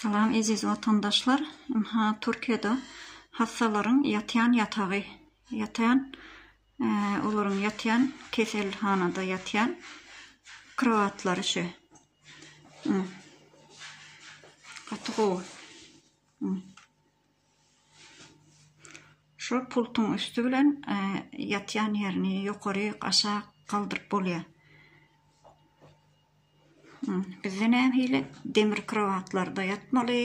Salam eziz watandaşlar ynha Türkiýede hassalaryň ýatýan ýatagy ýatýan olaryň ýatýan keselhanada ýatýan krowatlary şu gaty gowy. Şol pultuň üsti bilen ýatýan ýerini ýokary aşak galdyryp bolýar. Bizde nähili demir krowatlarda ýatmaly,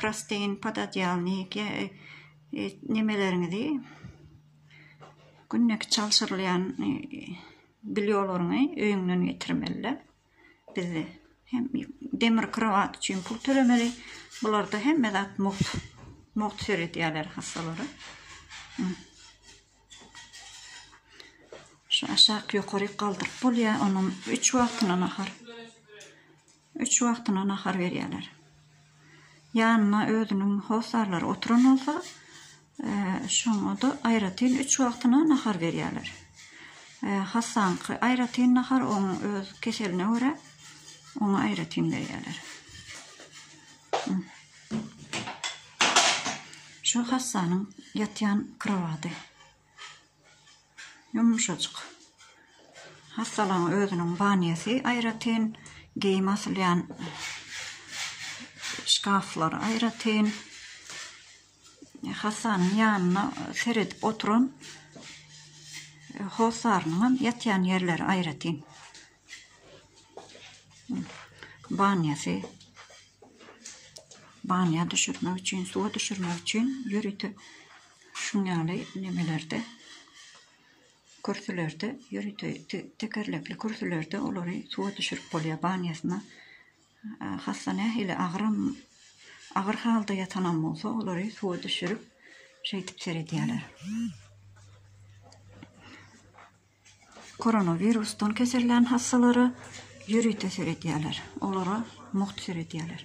prosteýin podadyalnik nemeleriňizi günlük çalşyrylýan bilýolorňy öýüňden getirmeliler. bizde hem demir krowat üçin pul tölemeli. Bularda hemme zat mugt. Mugt seredýärler hassalara. Şu aşak ýokary galdyryp bolýar. Onuň 3 wagtyna nahar. 3 wagtyna nahar berýärler. ýanyna özüniň hossarlary oturan bolsa, şoňa-da aýratyn üç wagtyna nahar berýärler. Hassaňky aýratyn nahar, oň öz keseline görä, oňa aýratyn berýärler. Şu hassanyň ýatýan krowady. Ýumşajyk. Hassalaň özüniň banýasy aýratyn, geýim asylýan şkaflary aýratyn. Hassanyň ýanyna seredip oturan hossarynyňam ýatýan ýerleri aýratyn. Banýasy banýa düşürmek üçin, suwa düşürmek üçin ýörite şuň ýaly nemelerde, kürsülerde, ýörite tekerlekli kürsülerde olary suwa düşürip bolýar. Banýasyna hassa nähili agyram, agyr halda ýatanam bolsa, olary suwa düşürip, şeýdip seredýärler. Koronawirusdan kesellän hassalara ýörite seredýärler, olara mugt seredýärler.